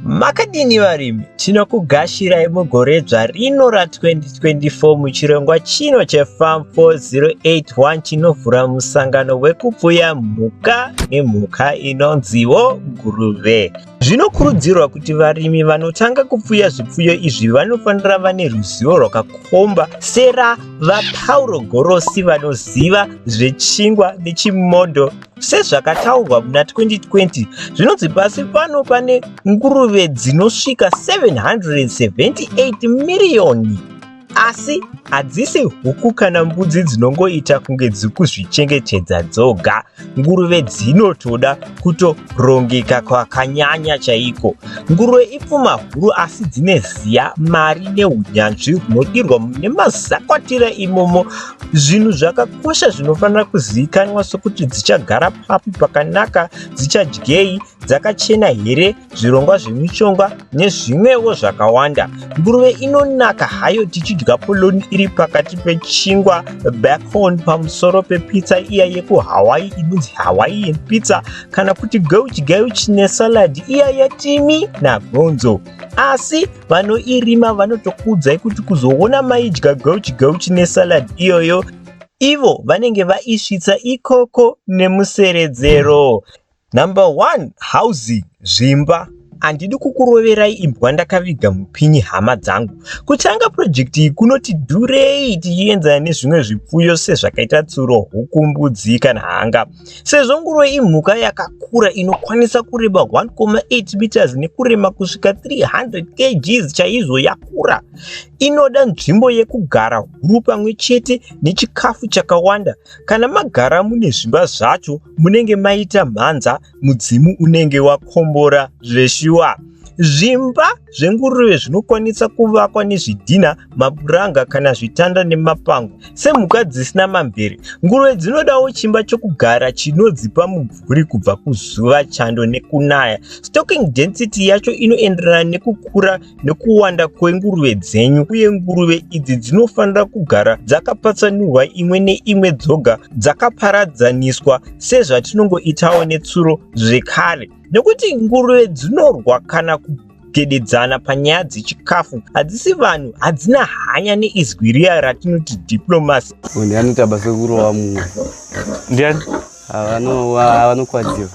Makadini varimi, tinokugashirai mugoredzva rino ra 2024 muchirongwa chino che Farm 408 chinovhura musangano wekupfuya mhuka nemhuka inonziwo nguruve. Zvinokurudzirwa kuti varimi vanotanga kupfuya zvipfuyo izvi vanofanira vane ruzivo rwakakomba sera VaPauro Gorosi vanoziva zvechingwa nechimodho. Sezvakataurwa muna 2020, zvinonzi pasi pano pane nguruve dzinosvika 778 miriyoni asi hadzisi huku kana mbudzi dzinongoita kunge dziri kuzvichengetedza dzoga nguruve dzinotoda kutorongeka kwakanyanya chaiko nguruve ipfuma huru asi dzine ziya mari neunyanzvi hunodirwa mune mazakwatira imomo Zvinhu zvakakosha zvinofanira kuzivikanwa sokuti dzichagara papi pakanaka, dzichadyei, dzakachena here, zvirongwa zvemishonga nezvimwewo zvakawanda. Nguruve inonaka hayo tichidya poloni iri pakati pechingwa, bacon, pamusoro pepizza iya yekuHawaii inonzi Hawaiian pizza kana kuti geuchi geuchi nesalad iya yetimi nagonzo. asi vanoirima vanotokuudzai kuti kuzoona maidya gauchi gauchi nesalad iyoyo ivo vanenge vaisvitsa ikoko nemuseredzero number one housing zvimba handidi kukuroverai imbwa ndakaviga mupinyi hama dzangu kutanga purojekti iyi kunoti dhurei tichienzana nezvimwe zvipfuyo sezvakaita tsuro huku mbudzi kana hanga Sezvo nguruve imhuka yakakura inokwanisa kureba 1,8 meters nekurema kusvika 300 kgs chaizvo yakura, inoda nzvimbo yekugara huru pamwe chete nechikafu chakawanda. Kana magara mune zvimba zvacho munenge maita mhanza mudzimu unenge wakombora zveshuwa. Zvimba zvenguruve zvinokwanisa kuvakwa nezvidhina, mapuranga kana zvitanda nemapango. Semhuka dzisina mamvere, nguruve dzinodawo chimba chokugara chinodzipa mumvuri kubva kuzuva, chando nekunaya. Stocking density yacho inoenderana nekukura nekuwanda kwenguruve dzenyu, uye nguruve idzi dzinofanira kugara dzakapatsanurwa imwe neimwe dzoga dzakaparadzaniswa sezvatinongoitawo netsuro zvekare. Nekuti nguruve dzinorwa kana kugededzana panyaya dzechikafu hadzisi vanhu hadzina hanya neizwi riya ratinoti diplomasi Munhu anoita basa rekurowa mumwe. ndiani Havano vanokwadziwa.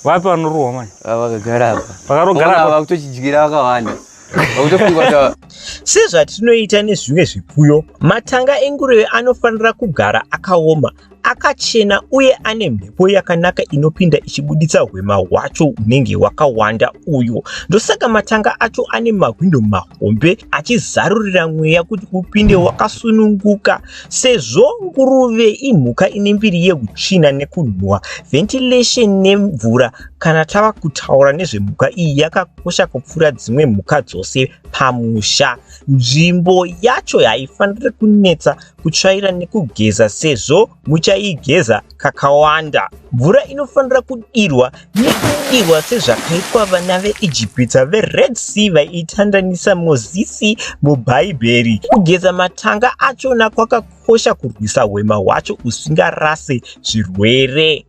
vapi vanorohwa manje Ava vakagara apa. Vakarogara Ona apa. vakutochidyira vakawanda. Vakutofunga kuti ava- sezvatinoita nezvimwe zvipfuyo matanga enguruve anofanira kugara akaoma akachena uye ane mhepo yakanaka inopinda ichibuditsa hwema hwacho hunenge hwakawanda uyo ndosaka matanga acho ane mahwindo mahombe achizarurira mweya kuti upinde wakasununguka sezvo nguruve imhuka ine mbiri yekutsvina nekunhuwa ventilation nemvura kana tava kutaura nezvemhuka iyi yakakosha kupfuura dzimwe mhuka dzose pamusha nzvimbo yacho haifaniri kunetsa kutsvaira nekugeza sezvo muchaigeza kakawanda. Mvura inofanira kudirwa nekudirwa sezvakaitwa vana veIjipita veRed Sea vaiitandanisa Mozisi muBhaibheri. Kugeza matanga achona kwakakosha kurwisa hwema hwacho usingarase zvirwere.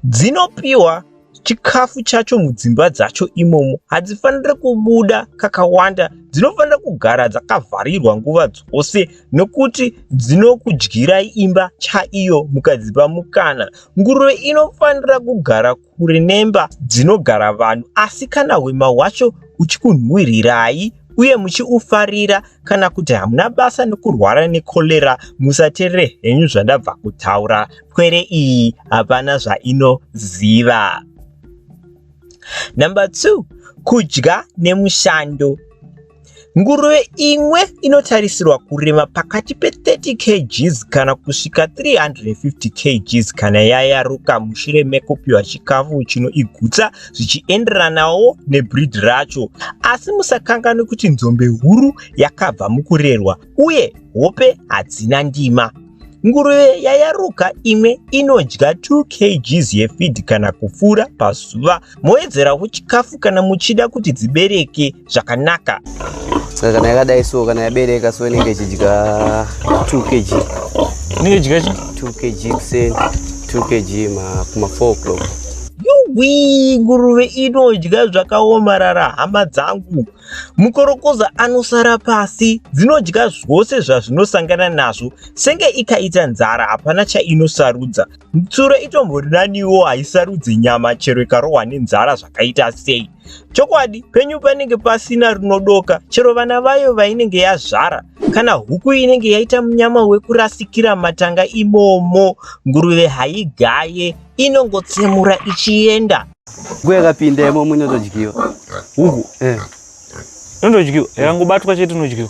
dzinopiwa chikafu chacho mudzimba dzacho imomo hadzifanire kubuda kakawanda dzinofanira kugara dzakavharirwa nguva dzose nokuti dzinokudyirai imba chaiyo mukadzipa mukana nguruve inofanira kugara kure nemba dzinogara vanhu asi kana hwema hwacho uchikunhuwirirai uye muchiufarira kana kuti hamuna basa nekurwara necholera musaterere henyu zvandabva kutaura pwere iyi hapana zvainoziva. Number two, kudya nemushando. Nguruve imwe inotarisirwa kurema pakati pe30 kgs kana kusvika 350 kgs kana yayaruka mushure mekupiwa chikafu chinoigutsa zvichienderanawo nebreed racho. Asi musakanganwe kuti nzombe huru yakabva mukurerwa. uye hope hadzina ndima. Nguruve yayaruka imwe inodya 2 kgs yefidhi kana kupfuura pazuva. Moedzerawo chikafu kana muchida kuti dzibereke zvakanaka. Saka kana yakadai so kana yabereka so inenge ichidya 2 kg. Inenge ichidya 2 kg kuseni 2 kg ma kuma 4 o'clock. Yuwii nguruve inodya zvakaomarara hama dzangu. Mukorokoza anosara pasi, dzinodya zvose zvazvinosangana nazvo, senge ikaita nzara hapana chainosarudza. Tsuro itombori naniwo haisarudze nyama chero ikarohwa nenzara zvakaita sei. Chokwadi, penyu panenge pasina rinodoka, chero vana vayo vainenge yazvara. Kana huku inenge yaita munyama wekurasikira matanga imomo, nguruve haigaye, inongotsemura ichienda. Huku yakapinda imomo inotodyiwa. Huku? Eh. Inotodyiwa. Yakangobatwa chete inodyiwa.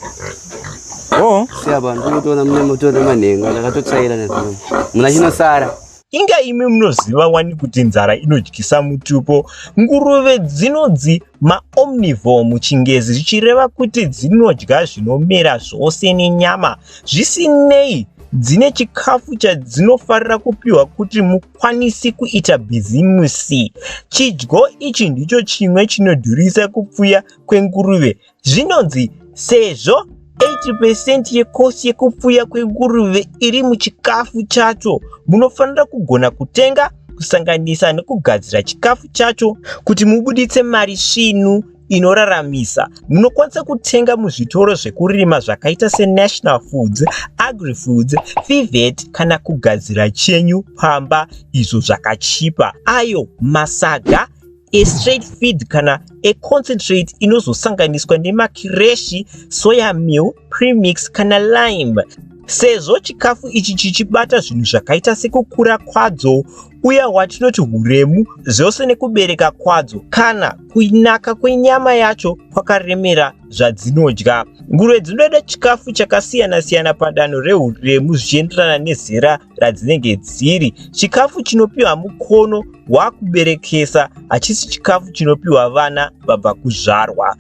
Oh. Siya vanhu kunotoona mune moto nemanhenga ndakatotsvaira nezvino. Muna chinosara. Inga imi munoziva wani kuti nzara inodyisa mutupo. Nguruve dzinonzi maomnivore muchingezi zvichireva kuti dzinodya zvinomera zvose nenyama. Zvisinei dzine chikafu chadzinofarira kupiwa kuti havakwanisi kuita bhizimusi. Chidyo ichi ndicho chimwe chinodhurisa kupfuya kwenguruve. Zvinonzi sezvo 80% yekosi yekupfuya kwenguruve iri muchikafu chacho, munofanira kugona kutenga, kusanganisa nekugadzira chikafu chacho kuti mubuditse mari svinu. inoraramisa munokwanisa kutenga muzvitoro zvekurima zvakaita senational foods agrifoods fivet kana kugadzira chenyu pamba izvo zvakachipa ayo masaga estraight feed kana econcentrate inozosanganiswa nemakireshi soya meal premix kana lime sezvo chikafu ichi chichibata zvinhu zvakaita sekukura kwadzo uya hwatinoti huremu zvose nekubereka kwadzo kana kunaka kwenyama yacho kwakaremera zvadzinodya. Nguruve dzinoda chikafu chakasiyana-siyana padanho rehuremu zvichienderana nezera radzinenge dziri. Chikafu chinopiwa mukono wakuberekesa hachisi chikafu chinopiwa vana vabva kuzvarwa.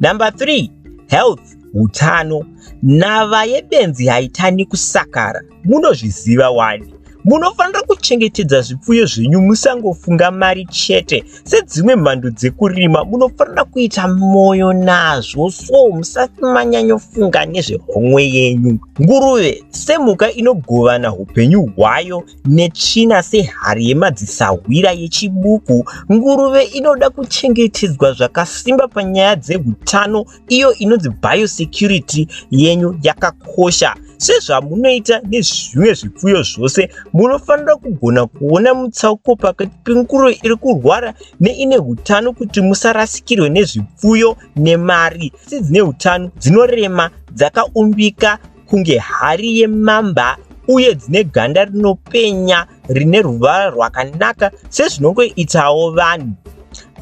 Number 3, health, hutano. Nhava yebenzi haitani kusakara. munozviziva wani munofanira kuchengetedza zvipfuyo zvenyu musangofunga mari chete sedzimwe mhando dzekurima munofanira kuita mwoyo nazvo so musati manyanyofunga nezvehomwe yenyu nguruve semhuka inogovana upenyu hwayo netsvina sehari yemadzisahwira yechibuku nguruve inoda kuchengetedzwa zvakasimba panyaya dzeutano iyo inonzi biosecurity yenyu yakakosha sezvamunoita nezvimwe zvipfuyo zvose munofanira kugona kuona mutsauko pakati penguruve iri kurwara neine utano kuti musarasikirwe nezvipfuyo nemari asi dzine utano dzinorema dzakaumbika kunge hari yemamba uye dzine ganda rinopenya rine ruvara rwakanaka sezvinongoitawo vanhu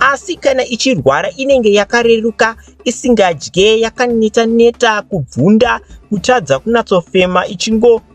asi kana ichirwara inenge yakareruka isingadye yakaneta neta kubvunda kutadza kunatsofema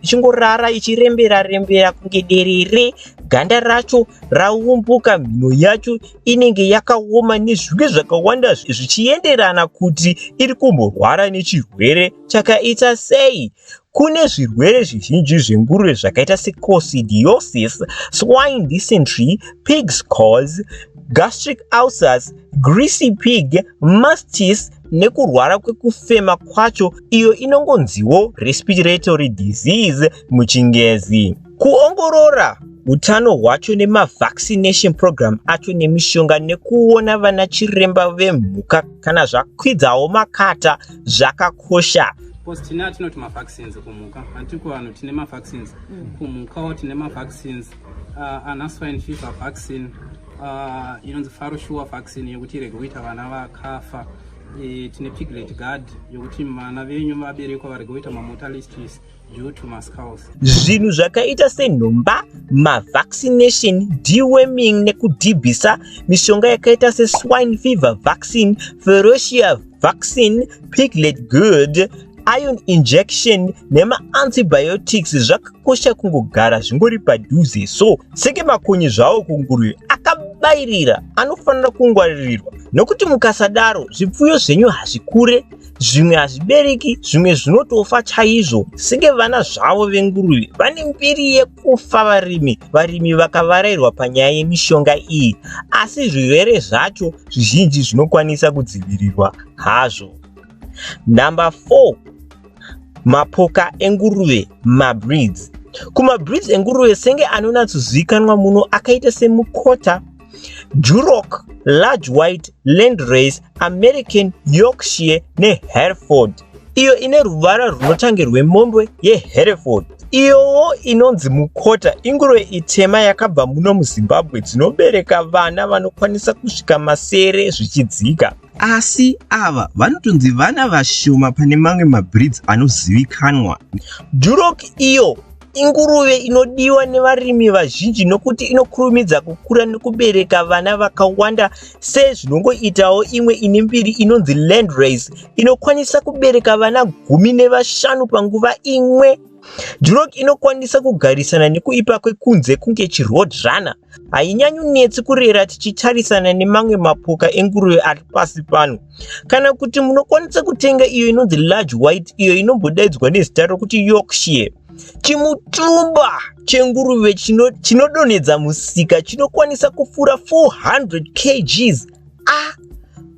ichingorara ichirembera rembera kunge derere ganda racho raumbuka mhino yacho inenge yakaoma nezvinge zvakawanda zvichienderana kuti iri kumborwara nechirwere Chakaita sei? Kune zvirwere zvizhinji zvenguruve zvakaita secoccidiosis, swine dysentery, pig's cause, gastric ulcers, greasy pig, mastis nekurwara kwekufema kwacho iyo inongonziwo respiratory disease muchingezi. Kuongorora utano hwacho nemavaccination program acho nemishonga nekuona vana chiremba vemhuka. kana zvakwidzawo makata zvakakosha because tine atinoti mavaccines kumhuka hanti kuvanhu tine mavaccines mm. kumhukawo tine mavaccines uh, ana swine fever vaccine uh, inonzi faro shuwa vaccine yekuti irege kuita vana vakafa e, tine piglet guard yokuti vana venyu vaberekwa varege kuita mamotalities Zvinhu zvakaita senhomba, mavaccination, deworming nekudhibhisa, mishonga yakaita seswine fever vaccine, ferocia vaccine, piglet good, iron injection nemaantibiotics zvakakosha kungogara zvingori padhuze so seke makonye zvawo kunguruve akabairira anofanira kungwaririrwa nokuti mukasadaro zvipfuyo zvenyu hazvikure zvimwe hazvibereki zvimwe zvinotofa chaizvo senge vana zvavo venguruve vane mbiri yekufa varimi varimi vakavarairwa panyaya yemishonga iyi asi zvirwere zvacho zvizhinji zvinokwanisa kudzivirirwa hazvo number 4 mapoka enguruve mabreeds kumabreeds enguruve senge anonatsozivikanwa muno akaita semukota Duroc, Large White, Landrace, American, Yorkshire neHereford iyo ine ruvara rwunotange rwemombwe yeHereford iyowo inonzi mukota inguruve itema yakabva muno muzimbabwe dzinobereka vana vanokwanisa kusvika masere zvichidzika asi ava vanotonzi vana vashoma pane mamwe mabreeds anozivikanwa durok iyo Inguruve inodiwa nevarimi vazhinji nokuti inokurumidza kukura nekubereka vana vakawanda sezvinongoitawo imwe ine mbiri inonzi landrace inokwanisa kubereka vana gumi nevashanu panguva imwe. Duroc inokwanisa kugarisana nekuipa kwekunze kunge chirhodrana. Hainyanyonetsi kurera tichitarisana nemamwe mapoka enguruve ari pasi pano. kana kuti munokwanisa kutenga iyo inonzi large white iyo inombodaidzwa nezita rokuti yorkshire chimutumba chenguruve chinodonhedza chino musika chinokwanisa kufura 400 kgs a ah,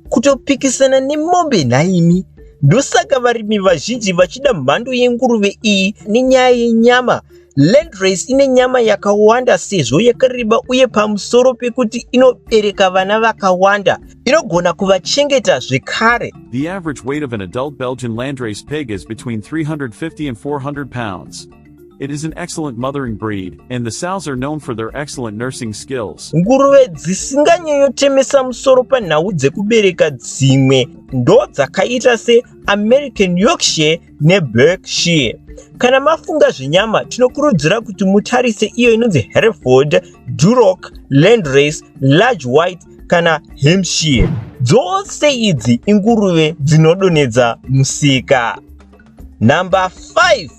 kutopikisana nemombe nhaimi ndosaka varimi vazhinji vachida mhando yenguruve iyi nenyaya yenyama Landrace ine nyama yakawanda sezvo yakareba uye pamusoro pekuti inobereka vana vakawanda, inogona kuvachengeta zvekare. The average weight of an adult Belgian landrace pig is between 350 and 400 pounds. It is an excellent mothering breed, and the sows are known for their excellent nursing skills. Nguruve dzisinganyanyotemesa musoro panhau dzekubereka dzimwe ndodzakaita se American Yorkshire neBerkshire. Kana mafunga zvenyama, tinokurudzira kuti mutarise iyo inonzi Hereford, Duroc, Landrace, Large White kana Hampshire. Dzose idzi inguruve dzinodonhedza musika. Number 5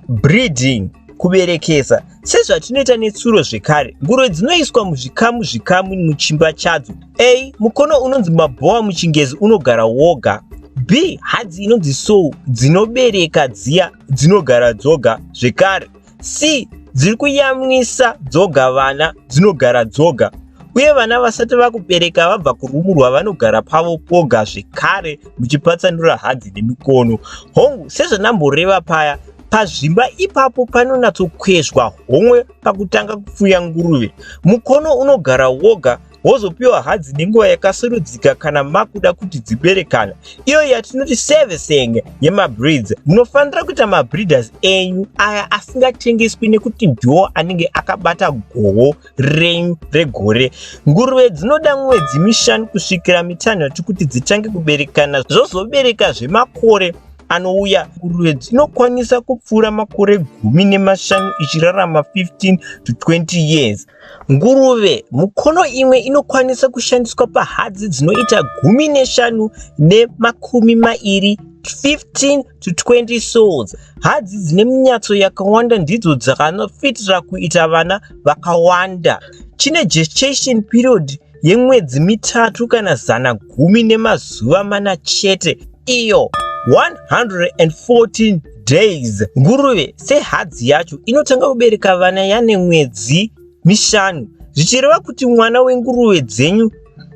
breeding kuberekesa Sezvatinoita netsuro zvekare, nguruve dzinoiswa muzvikamu zvikamu muchimba chadzo. A. Mukono unonzi mabhowa muchingezi unogara woga. B. Hadzi inonzi sow dzinobereka dziya dzinogara dzoga zvekare. C. Dziri kuyamwisa dzoga vana dzinogara dzoga uye vana vasati vakubereka vabva kurumurwa vanogara pavo poga zvekare muchipatsanura hadzi nemikono hongu sezvandamboreva paya Pazvimba ipapo panonatsokwezvwa homwe pakutanga kupfuya nguruve. Mukono unogara woga wozopiwa hadzi nenguva yakasarudzika kana makuda kuti dziberekana iyo yatinoti servicing yemabreeds munofanira kuita mabreeders enyu aya asingatengeswi nekuti ndiwo anenge akabata goho renyu regore nguruve dzinoda mwedzi mishanu kusvikira mitanhatu kuti dzitange kuberekana zvozobereka zvemakore anouya kurwedzi inokwanisa kupfuura makore gumi nemashanu ichirarama 15 to 20 years nguruve mukono imwe inokwanisa kushandiswa pahadzi dzinoita gumi neshanu nemakumi mairi 15 to 20 souls hadzi dzine minyatso yakawanda ndidzo dzakanofitira kuita vana vakawanda chine gestation period yemwedzi mitatu kana zana gumi nemazuva mana chete iyo 114 days nguruve sehadzi yacho inotanga kubereka vana yane mwedzi mishanu zvichireva kuti mwana wenguruve dzenyu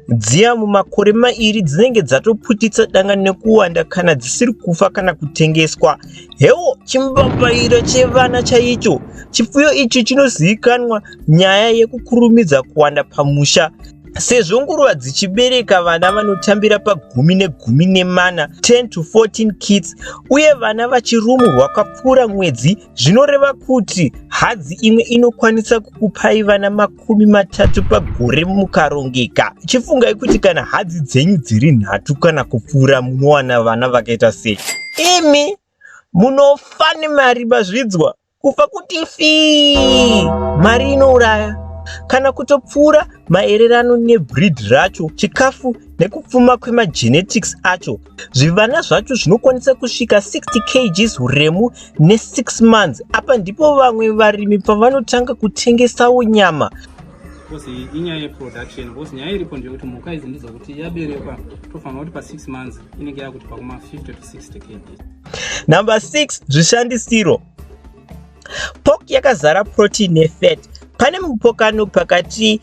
dziya mumakore mairi dzinenge dzatoputitsa danga nekuwanda kana dzisiri kufa kana kutengeswa hewo chimbapairo chevana chaicho chipfuyo ichi chinozivikanwa nyaya yekukurumidza kuwanda pamusha sezvo nguruva dzichibereka vana vanotambira pagumi negumi nemana 10 to 14 kids uye vana vachirumu rwakapfuura mwedzi zvinoreva kuti hadzi imwe inokwanisa kukupai vana makumi matatu pagore mukarongeka chifungai kuti kana hadzi dzenyu dziri nhatu kana kupfuura munowana vana vakaita sei imi munofa nemari mazvidzwa kufa kuti fii mari inouraya kana kutopfuura maererano nebreed racho chikafu nekupfuma kwemagenetics acho zvivana zvacho zvinokwanisa kusvika 60 kgs uremu ne6 months apa ndipo vamwe varimi pavanotanga kutengesawo nyama bcoz inyaya yeproduction bcoz nyaya iripo ndeyekuti mhuka idzi ndidzo kuti yaberekwa tofanira kuti pa6 months inenge yakuti pakuma 50 to 60 kg Number 6 zvishandisiro Pork yakazara protein nefat. Pane mupokano pakati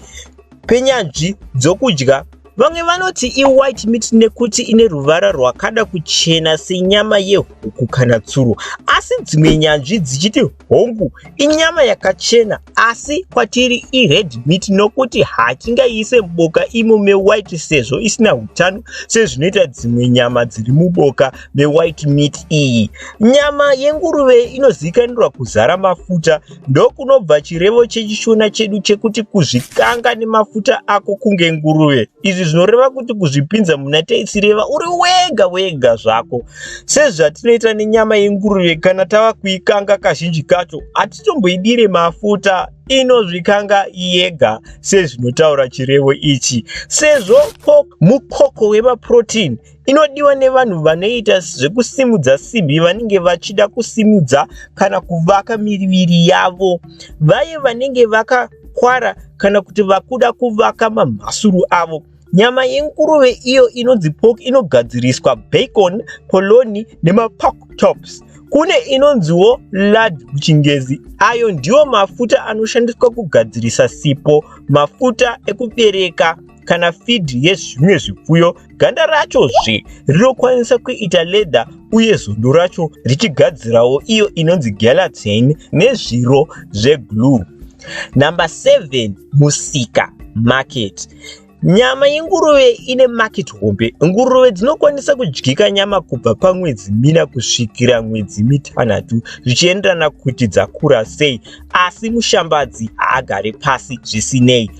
penyanzvi dzokudya vamwe vanoti iwhite meat nekuti ine ruvara rwakada kuchena senyama yehuku kana tsuro asi dzimwe nyanzvi dzichiti Hongu, inyama yakachena asi kwatiri ired meat nokuti hatingaiise muboka imo mewhite sezvo isina utano sezvinoita dzimwe nyama dziri muboka mewhite meat iyi. Nyama yenguruve inozivikanirwa kuzara mafuta ndokunobva chirevo chechishona chedu chekuti kuzvikanga nemafuta ako kunge nguruve. Izvi zvinoreva kuti kuzvipinza muna taisireva uri wega wega zvako. Sezvatinoita nenyama yenguruve kana tava kuikanga kazhinji kacho hatitomboidire mafuta inozvikanga yega sezvinotaura chirevo ichi sezvo mukoko wemaprotein inodiwa nevanhu vanoita zvekusimudza simbi vanenge vachida kusimudza kana kuvaka miriviri yavo vaye vanenge vaka kwara kana kuti vakuda kuvaka mamhasuru avo Nyama yenguruve iyo inonzi pork inogadziriswa bacon, polony nemapork chops. Kune inonziwo lard kuchingezi. Ayo ndiwo mafuta anoshandiswa kugadzirisa sipo, mafuta ekubereka kana feed yezvimwe zvipfuyo. Ganda racho zve rinokwanisa kuita leather uye zondo racho richigadzirawo iyo inonzi gelatin nezviro zveglue. Number 7 musika market Nyama yenguruve ine market hombe. Nguruve dzinokwanisa kudyika nyama kubva pamwedzi mina kusvikira mwedzi mitanhatu zvichienderana kuti dzakura sei, asi mushambadzi haagare pasi zvisinei.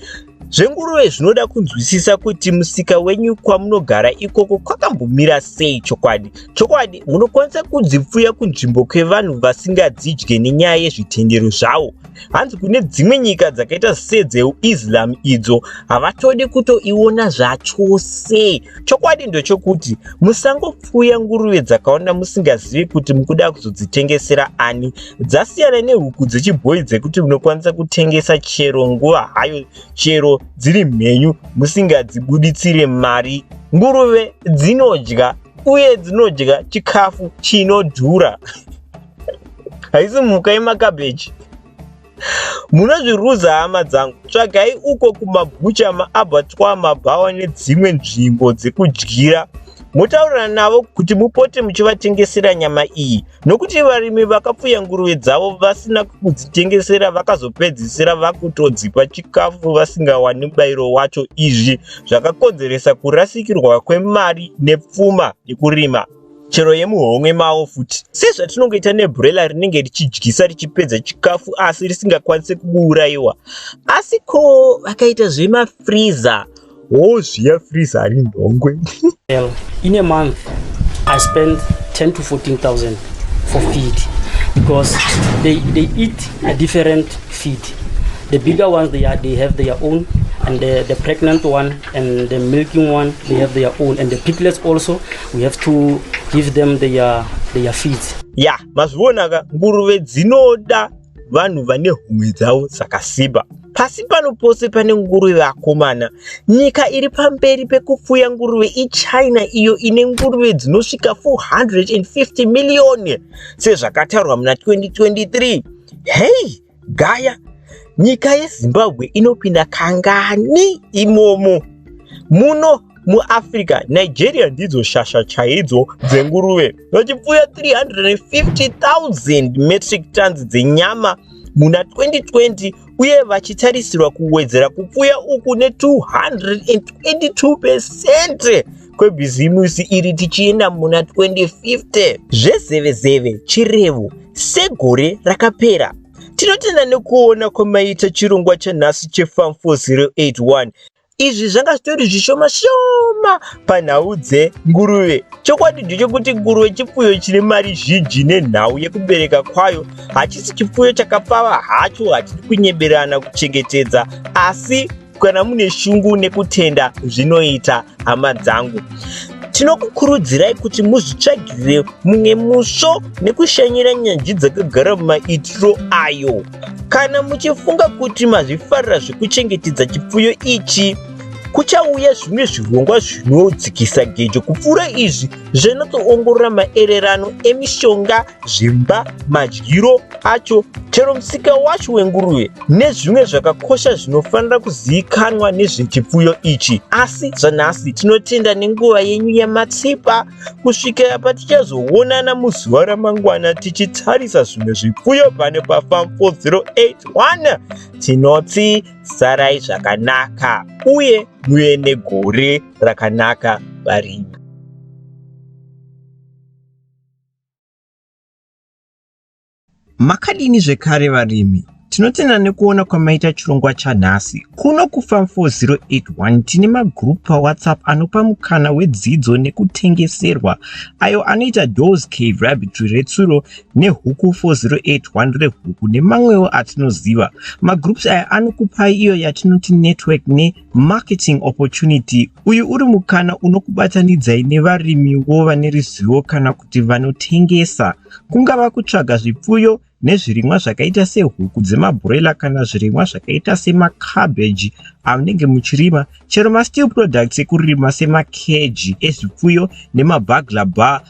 Zvenguruve zvinoda kunzwisisa kuti musika wenyu kwamunogara ikoko kwakambomira sei chokwadi. Chokwadi, munokwanisa kudzipfuya kunzvimbo kwevanhu vasingadzidye nenyaya yezvitendero zvavo. hanzi kune dzimwe nyika dzakaita sedzeuislam idzo havatodi kutoiona zvachose chokwadi ndochokuti musangopfuya nguruve dzakaona musingazivi kuti mukuda kuzodzitengesera ani dzasiyana nehuku dzechibhoyi dzekuti munokwanisa kutengesa chero nguva hayo chero dziri mhenyu musingadzibuditsire mari nguruve dzinodya uye dzinodya chikafu chinodhura haisi mhuka yemakabheji munozviruza hama dzangu tsvagai uko kumabhucha maabatwa mabhawa nedzimwe nzvimbo dzekudyira motaurira navo kuti mupote muchivatengesera nyama iyi nokuti varimi vakapfuya nguruve dzavo vasina kudzitengesera vakazopedzisira vakutodzipa chikafu vasingawani mubayiro wacho izvi zvakakonzeresa kurasikirwa kwemari nepfuma yekurima chero yemuhomwe mavo futi sezvatinongoita nebhurela rinenge richidyisa richipedza chikafu asi risingakwanise kuuraiwa asi ko vakaita zvemafriza wo zviya friza hari nhongwe in a month i spend 10 to 14000 for feed because they, they eat a different feed the bigger ones they, are, they have their own and the, the pregnant one and the milking one they have their own and the piglets also we have to give them their, their feeds ya mazvionaka nguruve dzinoda vanhu vane humwe dzavo dzakasimba pasi pano pose pane nguruve vakomana nyika iri pamberi pekupfuya nguruve ichina iyo ine nguruve dzinosvika 450 miriyoni sezvakataurwa muna 2023 hei gaya nyika yezimbabwe inopinda kangani imomo muno muafrica nigeria ndidzo shasha chaidzo dzenguruve vachipfuya 350000 metric tons dzenyama muna 2020 uye vachitarisirwa kuwedzera kupfuya uku ne 222 pesente kwebhizimusi iri tichienda muna 2050 zvezevezeve chirevo segore rakapera tinotenda nekuona kwamaita chirongwa chanhasi chefam 4081 izvi zvanga zvitori zvishoma shoma panhau dzenguruve chokwadi ndechokuti nguruve chipfuyo chine mari zhinji nenhau yekubereka kwayo hachisi chipfuyo chakapfava hacho hatidi kunyeberana kuchengetedza asi kana mune shungu nekutenda zvinoita hama dzangu tinokukurudzirai kuti muzvitsvagirire mumwe musvo nekushanyira nyanzvi dzakagara mumaitiro ayo kana muchifunga kuti mazvifarira zvekuchengetedza chipfuyo ichi kuchauya zvimwe zvirongwa zvinodzikisa gejo kupfuura izvi zvinotsoongorora maererano emishonga zvimba, madyiro acho, chero musika wacho wenguruve nezvimwe zvakakosha zvinofanira kuzivikanwa nezvechipfuyo ichi. Asi zvanhasi tinotenda nenguva yenyu yamatsipa kusvikira patichazoonana muzuva ramangwana tichitarisa zvimwe zvipfuyo pano paFarm 4081 tinoti sarai zvakanaka uye muve negore rakanaka varimi. Makadini zvekare varimi? Tinotenda nekuona kwamaita chirongwa chanhasi. Kuno kuFarm 4081 tine magroup paWhatsApp anopa mukana wedzidzo nekutengeserwa ayo anoita Dawes Cave Rabbitry retsuro neHuku 4081 rehuku nemamwewo atinoziva. Magroups aya anokupai iyo yatinoti network ne Marketing Opportunity, Uyu uri mukana unokubatanidzai nevarimiwo vane ruzivo kana kuti vanotengesa. Kungava kutsvaga zvipfuyo nezvirimwa zvakaita sehuku dzemabhuroila kana zvirimwa zvakaita semacabbage amunenge muchirima, chero masteel products ekurima semakeji ezvipfuyo nemabagla bar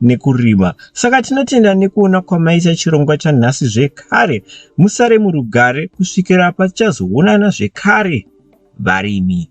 nekurima saka tinotenda nekuona kwamaita chirongwa chanhasi zvekare musare murugare kusvikira patichazoonana zvekare varimi